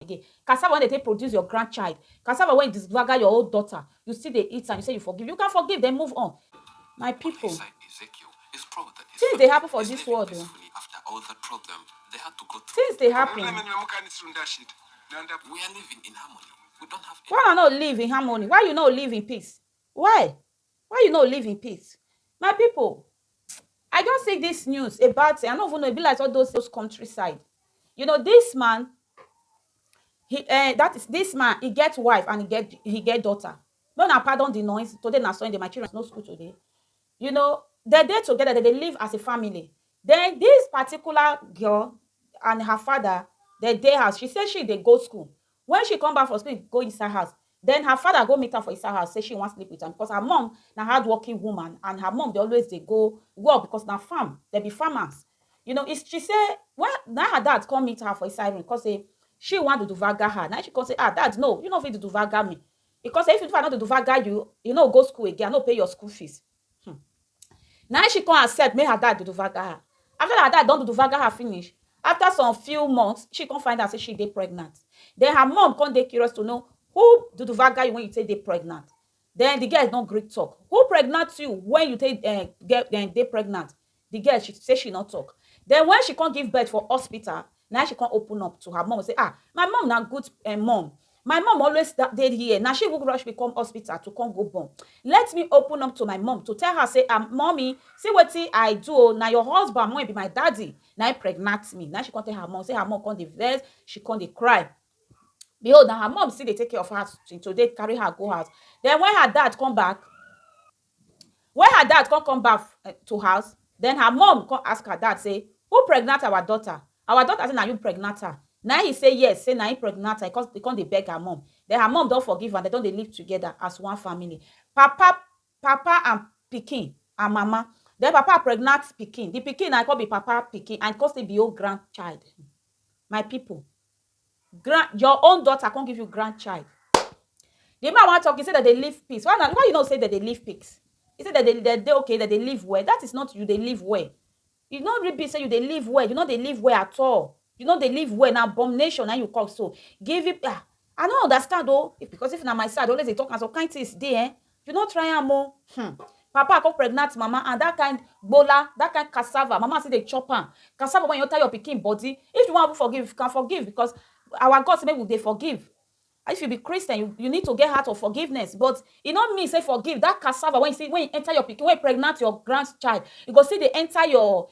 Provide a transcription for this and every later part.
again cassava wen dey take produce your grand child cassava wen disgbaga your own daughter you still dey eat am you say you forgive you can forgive den move on my people things dey happen for this world o things dey happen why una no live in harmony why you no live in peace why Why you no live in peace? My people I just see this news about I no even know e be like all those those countryside. You know this man he uh, that is this man he get wife and he get he get daughter. No na pardon the noise today na Sunday my children no school today. You know they dey together they dey live as a family. Then this particular girl and her father they dey house she say she dey go school Wen she come back from school go Isa house, den her father go meet am for Isa house say she wan sleep with am because her mum na hardworking woman and her mum dey always dey go work because na farm, dem be farmers. You know, is she say wen na her dad come meet her for inside room come say she wan duduvaga her, na im she come say ah dad no you no fit duduvaga me, e come say if I no duduvaga you, you no go school again, I no pay your school fees. um na she come accept make her dad duduvaga her after her dad don duduvaga her finish after some few months she come find out say she dey pregnant then her mom come dey curious to know who duduvaga you when you take dey pregnant then the girl no gree talk who pregnant you when you take um get um dey pregnant Di girl she say she no tok. Den wen she come give birth for hospital, na im she come open up to her mum say, Ah, my mum na good um mum. My mum always da dey here. Na she even rush me come hospital to come go born. Let me open up to my mum to tell her say, um Mummy, see wetin I do o, na your husband wey be my daddy na im pregnant me. Na im she come tell her mum, say her mum come dey vex, she come dey cry. Behold, na her mum still dey take care of her till today, carry her go house. Den wen her dad come back, Wen her dad kon come back to house, den her mum kon ask her dad sey, Who pregnant our daughter? Our daughter sey na you pregnant her? Naim he sey yes, sey naim pregnant her, he kon dey beg her mum. Den her mum don forgive am, dem don dey live togeda as one family. Papa Papa and pikin and mama. Den papa pregnant pikin, di pikin na kon be papa pikin and kon still be own grandchild. My pipo, grand your own daughter come give you grandchild the man wan talk he say dem dey live peace why na why you know say dem dey live peace he say dem dey dem dey okay dem dey live well that is not you dey live well you no really be say you dey live well you no dey live well at all you no dey live well na abomination na you cause so giving ah i no understand o because if na my side i dey always dey talk am some kind things dey eh You no try am o hum papa come pregnant mama and that kind gbola, that kind cassava mama still dey chop am, cassava wey you enter your pikin body if you wan even forgive you can forgive because our God say make we dey forgive if you be Christian you you need to get heart of forgiveness but e no mean say forgive that cassava wey you see wey enter your pikin wey pregnant your grand child e go still dey enter your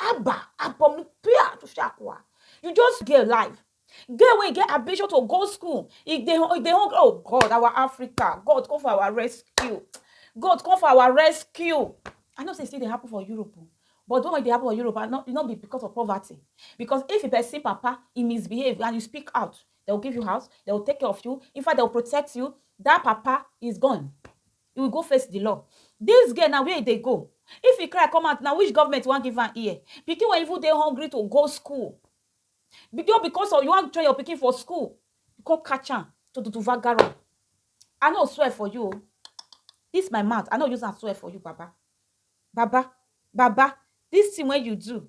Abba, abomi pia to shakwa. You just get life. Girl wey get ambition to go school, e dey e dey hungry. Oh God, our Africa, God come for our rescue. God come for our rescue. I know say e still dey happen for Europe o, but the one wey dey happen for Europe, I no e no be because of poverty. Because if person papa e misbehave and you speak out, they will give you house, they will take care of you, in fact they will protect you, that papa is gone. He will go face the law. This girl na where he dey go? If he cry come out na which government wan give am ear? Pikin wey even dey hungry to go school just because of you wan train your pikin for school you come catch am to to to vagara I no swear for you o this my mouth I no use am swear for you baba baba baba this thing wey you do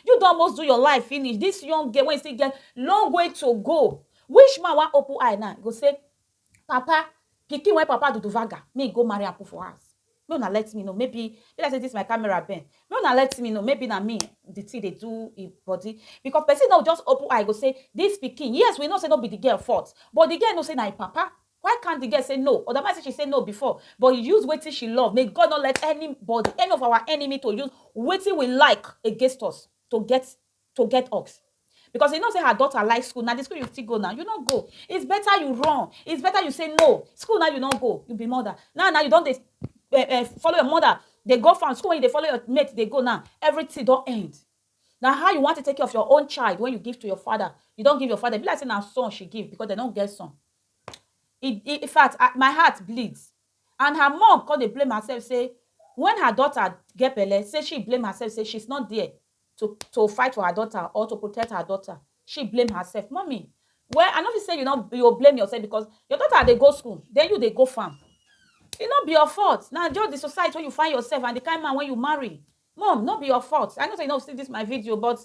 You don almost do your life finish, this young girl wey still get long way to go, which man wan open eye now go say papa pikin wey papa do duvaga make he go marry am put for house, make una let me know maybe e be like say this my camera bend, make una let me know maybe na me the thing dey do him body because person no go just open eye go say this pikin, yes we know say no be the girl fault but the girl know say na him papa Why can't the girl say no? Odama say she say no before but use wetin she love may God not let anybody any of our enemy to use wetin we like against us to get to get us because you know say her daughter like school na the school you still go now you no go it's better you run it's better you say no school now you no go you be mother now now you don dey eh, eh, follow your mother dey go farm school when you dey follow your mate dey go now everything don end na how you want to take care of your own child when you give to your father you don give your father be like say na son she give because dem no get son in in fact I my heart bleed and her mom come dey blame herself say when her daughter get belle say she blame herself say she's not there to to fight for her daughter or to protect her daughter she blame herself mummy well I no fit say you no you go blame yourself because your daughter dey go school then you dey go farm e no be your fault na just the society wey you find yourself and the kind man wey you marry Mom no be your fault, I know say you no see this my video but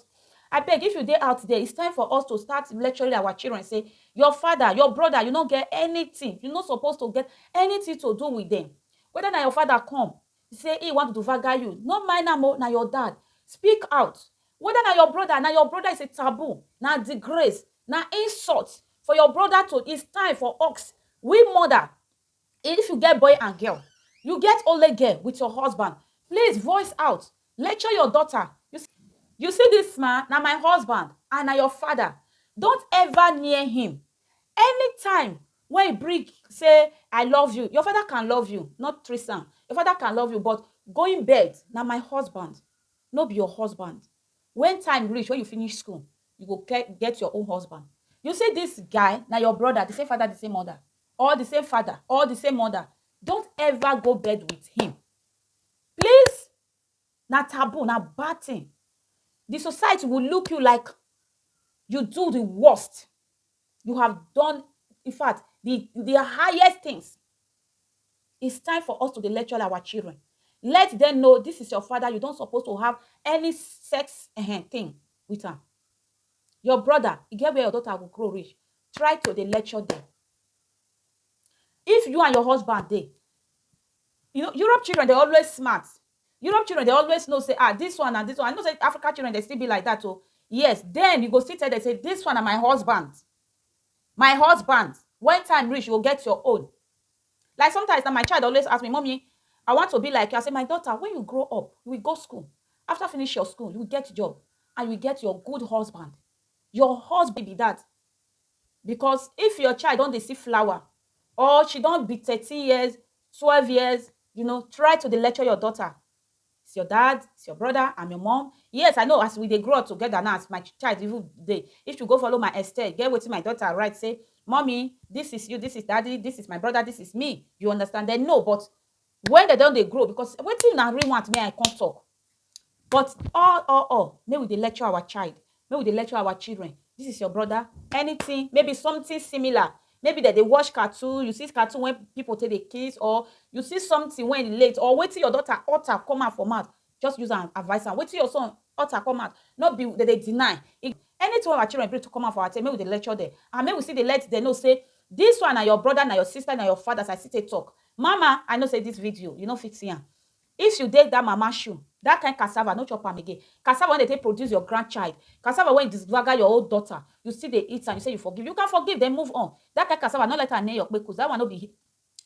abeg if you dey out there it's time for us to start lecturing our children say your father, your brother you no get anything, you no suppose to get anything to do with them whether na your father come say he want to vaga you no mind am o na your dad speak out whether na your brother, na your brother is a taboo, na disgrace, na insult for your brother to it's time for us we mother If you get boy and girl You get only girl with your husband Please voice out Lecture your daughter You see You see this man Na my husband And na your father Don't ever near him Anytime When he bring Say I love you Your father can love you Not threesome Your father can love you But going bed Na my husband No be your husband When time reach When you finish school You go get your own husband You see this guy Na your brother The same father The same mother or the same father or the same mother don't ever go bed with him please na taboo na bad thing the society will look you like you do the worst you have done in fact the the highest things it's time for us to dey lecture our children let them know this is your father you don't suppose to have any sex uh, thing with am Your brother, e get where your daughter go grow reach, try to dey lecture dem. If you and your husband dey, you know Europe children dey always smart, Europe children dey always know sey ah dis one and dis one, I know sey Africa children dey still be like dat oh, yes den you go still tell dem sey dis one na my husband, my husband, when time reach you go get your own. Like sometimes na my child dey always ask me, Mummy, I want to be like you. I say, My daughter, when you grow up, you will go school. After finish your school, you will get job and you will get your good husband. Your husband be that. Because if your child don dey see flower or she don be thirteen years, twelve years, you know, try to dey lecture your daughter. It's your dad, it's your brother, I'm your mom. Yes, I know as we dey grow up together now, as my ch- child even dey, if you go follow my Esther, get wetin my daughter write, say, Mommy, this is you, this is daddy, this is my brother, this is me. You understand? They know, but when they don dey grow, because wetin una really want, me I come talk. But all, all, all, may we dey lecture our child. Make we dey lecture our children this is your brother anything maybe something similar maybe dem dey watch cartoon you see cartoon wey people take dey kiss or you see something wey relate or wetin your daughter utter come out for mouth just use am advice am wetin your son utter come out no be dem dey deny anything wey our children bring to come out for our table make we dey lecture dem and make we still dey let dem know say this one na your brother na your sister na your father as I still take talk mama I know say this video you no fit see am If you dey that mama shoe, that kind cassava no chop am again. Cassava wey dem take produce your grand child, cassava wey disgbaga your own daughter, you still dey eat am, you say you forgive. You can forgive then move on. That kind cassava, no let am near your kpekus. That one no be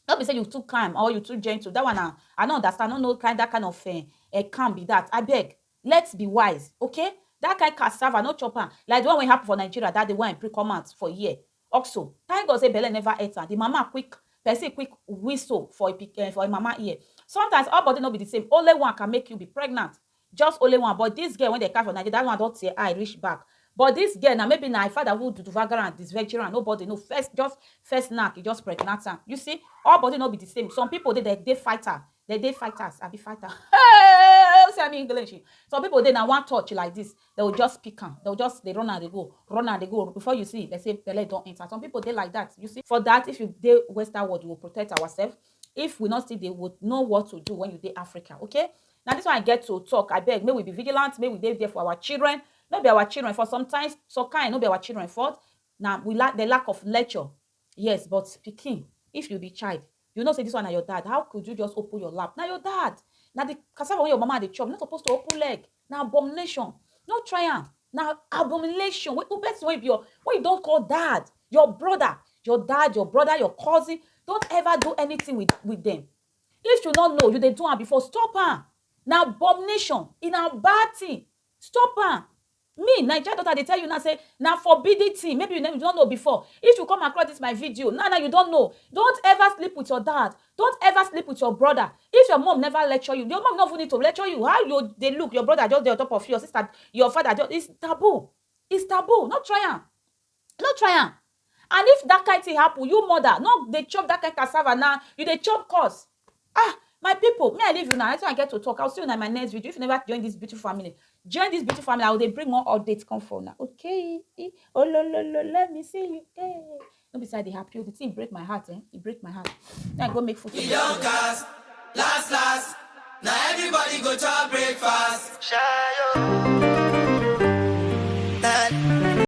no be say you too calm or you too gentle. That one na I no understand, I no know kind that kind of um calm be that. Abeg, let's be wise, okay? That kind cassava, no chop am. Like the one wey happen for Nigeria that day wey I bring come out for here. Oxo, thank God say belle never enter the mama quick person quick whistle for e pik eh for e mama ear sometimes all body no be the same only one can make you be pregnant just only one but this girl wey dem catch for Nigeria that one don tear eye reach back but this girl na maybe na e father who duduvagara and disvegera am nobody know first just first knack e just pregnant am you see all body no be the same some people dey dem dey fighter Dem dey fighters abi fighter hey u see am English some people dey na one touch like this dem go just pick am dem go just dey run am dey go run am dey go before you see dem say belle don enter some people dey like that you see for that if you dey western world we go protect ourself if we no still dey we go know what to do when you dey Africa okay na this one I get to talk abeg make we be vigilant make we dey there for our children no be our children fault sometimes some kind no be our children fault na we lack the lack of lecture Yes but pikin if you be child you know say this one na your dad how could you just open your lap na your dad na the cassava wey your mama dey chop you no suppose to open leg na abomination no try am na abomination wey u person wey be your wey you don call dad your brother your dad your brother your cousin don't ever do anything with with them if you no know you dey do am before stop am na abomination e na bad thing stop am Me naija daughter dey tell you now say na forbidden thing maybe you never you don know before if you come across this my video now now you don know don't ever sleep with your dad don't ever sleep with your brother if your mom never lecture you your mom no even need to lecture you how you dey look your brother just dey on top of you your sister your father just is taboo is taboo no try am. No try am and if that kind thing happen you mother no dey chop that kind cassava na you dey chop cos ah my people me I leave una na wetin I get to talk I will see una in my next video if you never join this beautiful family join this beautiful family I will dey bring more updates come for una okay e olololo let me see you eh no be say I dey happy o the thing break my heart eh e break my heart me I go make food for E don myself. cast, last last. Now everybody go chop breakfast. Shayo.